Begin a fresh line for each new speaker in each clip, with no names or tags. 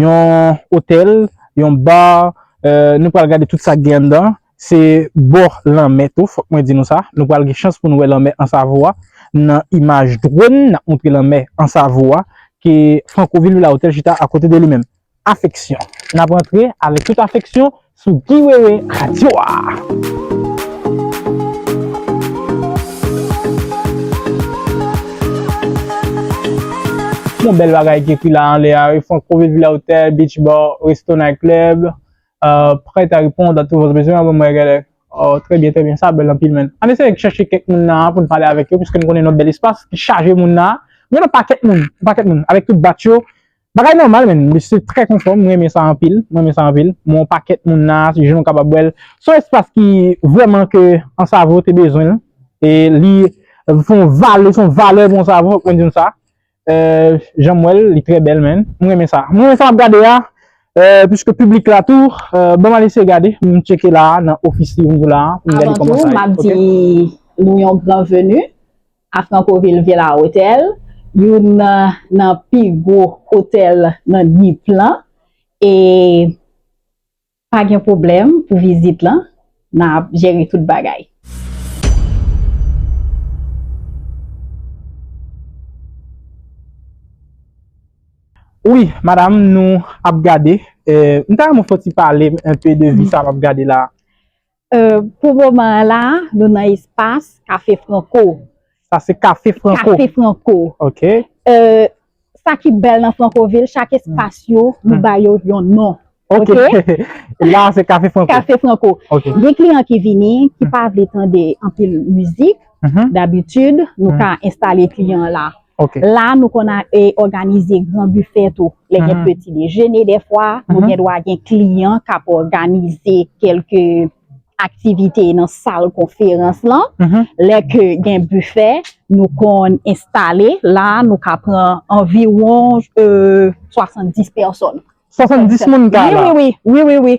Yon otèl, yon bar, nou pral gade tout sa k gen anndan. Se bò lanmè tou, fòk mwen di nou sa. Nou pral gen chans pou nou wè lanmè Ansavo a nan imaj dronn n ap montre lanmè Ansavo a ke Franco Ville Villa Hotel chita akote de li menm. Afeksyon. N ap antre avèk tout afeksyon Sou Guy Wewe Radio a! Bon bèl bagay ki ekri la anlè a wi Franconville Villa Hotel Beach Bar Resto Night Club euh, prêt à répondre à tous vos besoins an mwen gade oh trè byen trè byen sa bèl anpil men an eseye chèche kèk moun nan pou n pale avèk yo piske n konnen nou bèl espas ki chaje moun nan gen yon pakèt moun yon pakèt moun avèk tout bat yo Bagay nòmal menn, li se trè konfò, m renmen sa anpil, m renmen sa anpil, m wè yon pakèt moun la, se jèn ou kapab wè l, se yon espas ki vrèman ke Ansavo te bezwen l, e li se yon valè, se yon valè pou Ansavo, fòk mwen di nou sa, jan m wè l, li trè bèl menn, m renmen sa, m renmen sa m ap gade a, piske piblik la tou, ban m al eseye gade, m tcheke la a nan ofis li pou m di w la a, pou m gade kòman sa ye, ok. Avan tou, m ap
di nou yon gran veni, A Franconville Vye La Hotèl, youn nan pi gwo otèl nan Dnipr lan e pa gen pwoblèm pou vizit lan, n ap jere tout bagay.
Wi madam nou ap gade, m ta renmen w fon ti pale m enpe de vi sa m ap gade la. Pou
moman an la, nou nan espas Kafe Franco. Sa se Kafe
Franco? Kafe Franco. Ok.
Sa ki bèl nan Francoville, chak espas yo, nou ba yo yon non. Ok.
La se Kafe Franco? Kafe Franco. Ok.
Gen kliyan ki
vini,
ki pa vle tande anpil mizik, dabitid, nou ka enstale kliyan la. La nou konn òganize gran bifè tou lè gen peti dejene defwa. Nou gen dwa gen kliyan k ap òganize kelke aktivite nan sal konferans lan. Lè ke gen bifè, nou konn enstale. La nou ka pran anviwon 70 pèsòn. 70 moun
ka la? Wi, wi, wi.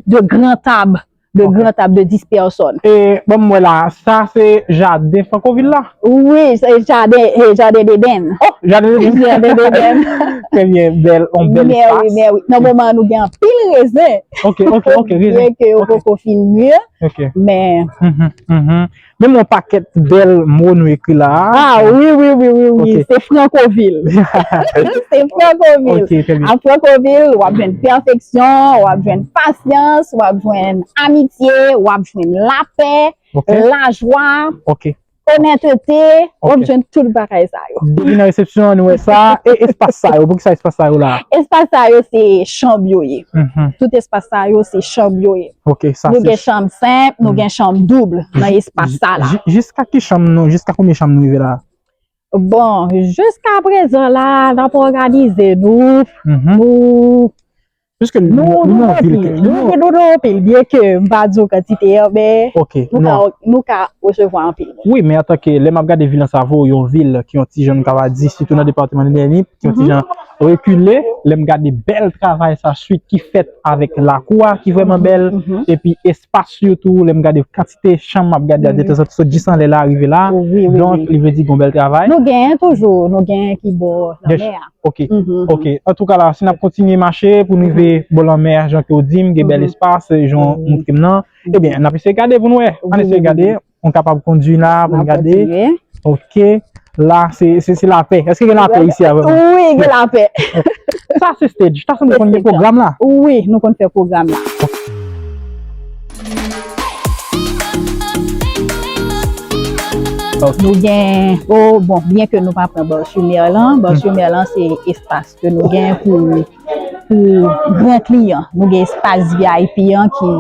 De
gran tab.
de gran tab de 10 pèsòn. E, ban m wè la,
sa se jaden Frankovil la? Wi, se
jaden, e jaden Deden. O, jaden Deden.
Jaden Deden.
Trè byen,
bèl, yon bèl espas. Mè wi, mè wi. Nan moman an
nou gen anpil rezen. Ok, ok, ok,
rezen. Byen ke
yo poko fin mûr. Ok. Men. Mh, mh, mh.
Menm yon pakèt bèl mo nou ekri la a. A wi wi wi
wi wi, se
Francovil.
Se Francovil. Ok, trè byen. A Francovil,
w ap
jwenn pèfeksyon, w ap jwenn pasyans, w ap jwenn amitye, w ap jwenn lapè, lajwa, onètete, w ap jwenn tout bagay sa yo. Depi nan resepsyon an
nou wè sa. E espas sa yo, pou ki sa espas sa yo la a? Espas sa yo se
chanb yo ye. Tout espas sa yo se chanb yo ye. Nou gen
chanm senp,
nou gen chanm double nan espas sa la. Jiska ki chanm nou,
jiska konbyen chanm nou rive la? Bon,
jiska prezan la, n ap òganize nou, nou... Piske
nou gen anpil, nou gen nou anpil,
byen ke m pa di w kantite yo, men
nou ka
osevwa anpil. Wi, men atan ke lè m ap
gade vil an savo, yon vil ki yon tijan nou ta va di, sitou nan depatman de Nèni, ki yon tijan rekile, lè m gade bèl travay sa, swit ki fèt. avèk lakou a ki vrèman bèl, epi espas yo tou, lè m gade kantite chanm m ap gade a detezan, sot jis anlè la rive la, donk li vle di gon bèl travay. Nou genyen toujou,
nou genyen ki bò lanmè a. Ok, ok,
antouka la, si n ap kontinye mache pou nou rive bò lanmè a, jan ke w di m, gen bèl espas, jan w montre m nan, ebyen, n ap eseye gade pou nou wè, ann eseye gade. Mwen kapab kondwi la pou m gade. Mwen kontinye. Ok. La se lapè. Eske gen lapè isi a vreman? Wi, gen lapè.
Sa se
stage. Sa se nou konn gen pwogram la? Wi, nou konn fè
pwogram la. Nou gen, o bon, byen ke nou pa pran Bòs Chomè lan. Bòs Chomè lan se espas ke nou gen pou gran kliyan. Nou gen espas VIP an ki...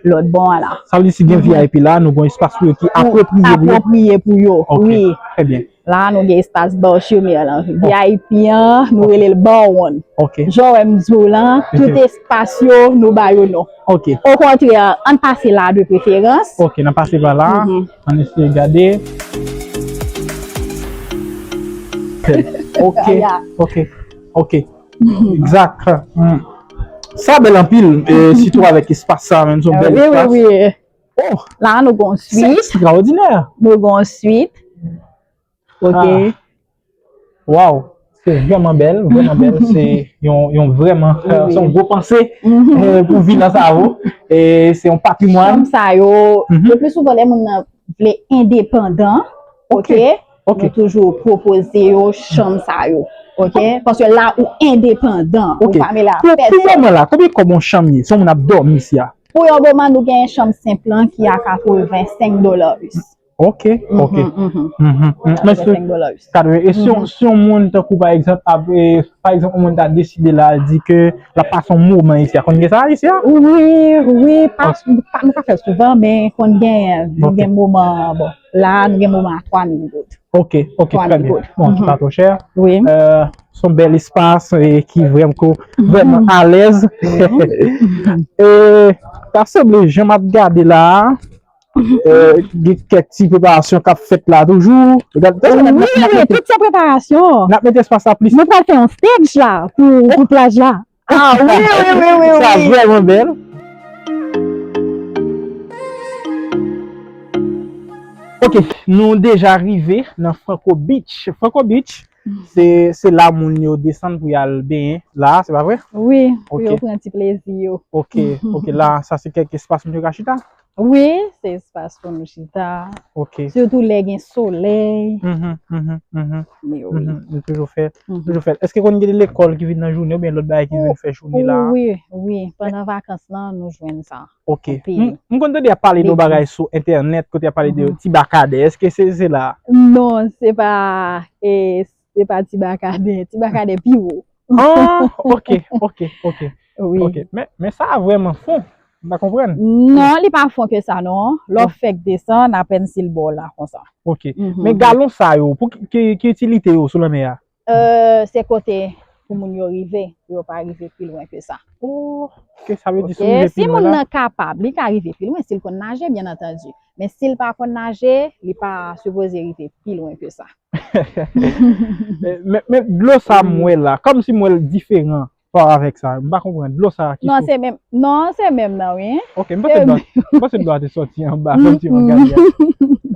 lòt bò a la. Sa vle di si gen vip
la, nou gon espas pou yo ki apwopriye pou yo? Apwopriye
pou yo, wi. Ok, trè byen. La a
nou gen espas
Bar Chez Merlan. Vip an, nou rele l Bar One. Ok. Jan wè m
di w la,
tout espas yo, nou ba yo non. Ok. Okontrè, an n pase la a de preferans. Ok, n ap pase pa la
a. An n eseye gade. Trè byen. Ok, ok, ok. Exact Sa bèl anpil sitou avèk espas sa menm son bèl espas Wi wi wi
La a
nou gon
swit Se ekstraòdinè Nou
gon swit
Ok
Waw Se vèman bèl vèman bèl se yon vèman se yon gwo panse pou vila
sa a wou
e se yon patrimwàn Chanm sa yo
le pli souvan lè moun
nan
vle endepandan Ok Ok. Nou toujou
pwopoze
yo chanm sa yo. Ok? Paske la ou endepandan. Ou Ok. pa mele a Pou, pou
pèsòn.
moman la, konbyen
kòb
yon
chanm ye? Si yon moun ap dòmi isi a? Pou yon moman nou gen
chanm senp lan ki a 85 dola us. Ok,
ok. Mhm, mhm. Mhm, mhm. Men si, 85 dola us. kadre, e si
yon, si
yon moun tankou pa egzanp ap, e, pa egzanp yon moun ta deside la al di ke lap pase yon moman isi a, konn gen sa isi a? Wi, wi,
pa, pa, nou pa fèl souvan men konn genyen, Ok. gen moman, bon. la a nou gen moman a 3 mil goud. Ok, ok, trè
byen. Bon, ki pa twò chè. Wi.
Son bèl
espas ki vrèman kou, vrèman alèz. E, ta sanble jan m ap gade la a, gen kèk ti preparasyon k ap fèt la toujou. Wi, wi, tout se
preparasyon. N ap mete espas la plis.
Nou pral fè yon stage
la pou plaj la. Ah oui, oui, oui, oui, Ça oui. vraiment
belle. Ok, nou deja rive nan Franco Beach. Franco Beach, se, se la moun yo desann pou yal benyen. La, se pa vre? Oui, pou Ok. yo pran
ti
plezi
yo. Ok, ok,
la, sa se kèk espas moun yo ka chita? Wi, se
espas pou nou chita. Ok. Sitou
lè gen
solèy. Mhm, mhm, mhm. Ni oui. Mhm, Nou toujou fè,
Mhm. toujou fè. Eske kon gen lekòl ki vin nan jounen ou bien lòt bagay ki vin fè jounen la? Ou, wi, wi. Pandan
vakans lan, nou jwenn sa. Ok. Anpil. M m
konn tande y ap
pale de yon Beti.
bagay sou entènèt kote y ap pale de Mhm. ti bakadè. Eske se se la? Non, se pa
e, Se pa ti bakaden, ti bakaden pi wo. Oh, ok,
ok, ok.
Wi. Ok, men, men
sa a vreman fon. M pa konprann. Non, li pa fon
ke sa non. Lè w fèk desann, apèn si l ba w la konsa. Ok. Men galon
sa yo, pou ki, ki itilite yo sou lanmè a? Euh, se kote
pou moun yo rive, pou yo pa rive pi lwen ke sa. Oh, ok, sa
vle di si w rive pi lwen la. Ok, si moun nan
kapab, li
ka rive
pi lwen, si l konn naje, byen antandi. Men si l pa konn naje, li pa sipoze rive pi lwen ke sa.
Men dlo sa m wè la, kòm si m wè l diferan pa avèk sa. M pa konprann. Dlo sa ki sot. Non se menm. Non
se menm nan wi. Ok, m panse dlo
a, m panse dlo a te soti anba kòm si m ap gade a.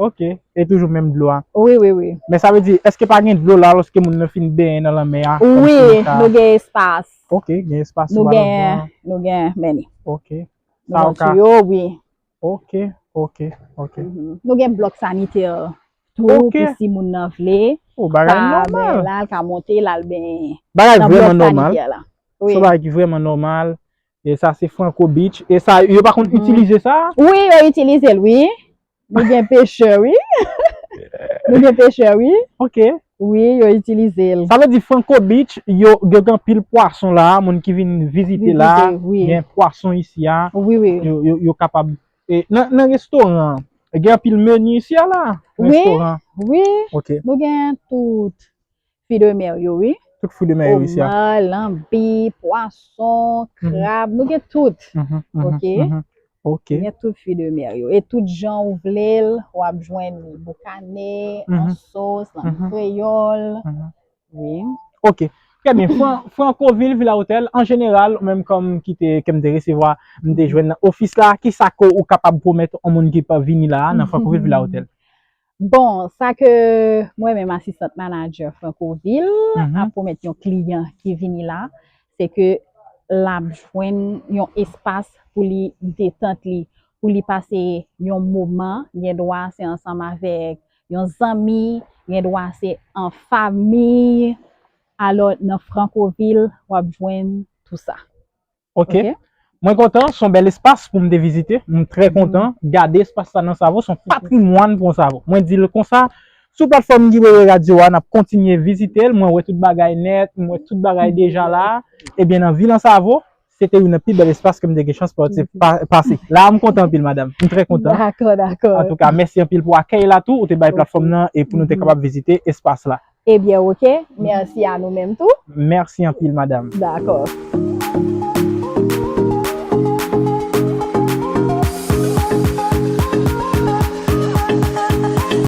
Ok, e toujou menm dlo a. Wi, wi, wi. Men sa
vle di, èske
pa gen dlo la lòske moun nan fin benyen nan lanmè a? Wi, nou gen
espas. Ok, gen espas
sou balkon an.
Nou gen, nou gen, men ni. Ok.
Nou gen tiyo,
wi. Ok,
ok, ok.
Nou gen blòk sanitè. Tou Ok. pou si moun nan
vle
Oh, bagay ka benyen
nòmal. la, l ka monte l al
benyen Bagay nan blòk vrèman nòmal.
sanitè la. Wi. Son bagay ki vrèman
nòmal.
E sa se Franco Beach. E sa yo pa konn Mhm. itilize sa? Wi, yo itilize
l wi. Nou gen pechè wi. Nou gen pechè wi.
Ok. Wi, yo
itilize l. Sa vle di Franco
Beach yo yo gen anpil pwason la, moun ki vin vizite la, Vizite, wi. gen pwason isi a, Wi, wi. yo yo yo
kapab
E nan nan restoran an, gen anpil menu isi a la? Wi, Restoran an. wi, Ok.
nou gen
tout
fwi de mer yo wi. Tout fwi de mer yo isi
a. Omar, lanbi,
pwason, Mhm. krab, nou gen tout. Mhm, mhm, Ok. mhm. Ok. Gen
tout fwi de
mer yo. E tout jan ou vle l, wap jwenn li boukane, an Mhm. sos, lan Mhm. kreyòl. Mhm. Wi. Ok.
Trè byen. Francoville Villa Hotel, an jeneral, ou menm kòm ki te, ke m te resevwa, m te jwenn nan ofis la, ki sa ke ou kapab pwomèt yon moun ki pa vini la a nan Francoville Villa Hotel? Bon,
sa ke mwen menm asistant manager Francoville ap pwomèt yon kliyan ki vini la, se ke l ap jwenn yon espas pou li detant li, pou li pase yon moman, gen dwa se ansanm avèk Yon zanmi, gen dwa se an famiy. Alò nan Francovil w ap jwenn tou sa. Ok.
Mwen kontan, s on bèl espas pou m te vizite. M trè kontan gade espas sa nan Savo. S on patrimwàn pou Savo. Mwen di l konsa. Sou platfòm Guibebe Radio a, n ap kontinye vizite l. Mwen wè tout bagay nèt, m wè tout bagay deja la. Ebyen nan vil Ansavo, Se te youn nan pi bèl espas ke m te gen chans pase. La a m kontan anpil madam. M trè kontan. Dakò, dakò. Antouka,
mèsi anpil
pou akèy la tou ou te bay platfòm nan e pou nou te kapab vizite espas la. Ebyen
ok. Mèsi
a
nou menm
tou.
Mèsi anpil
madam.
Dakò.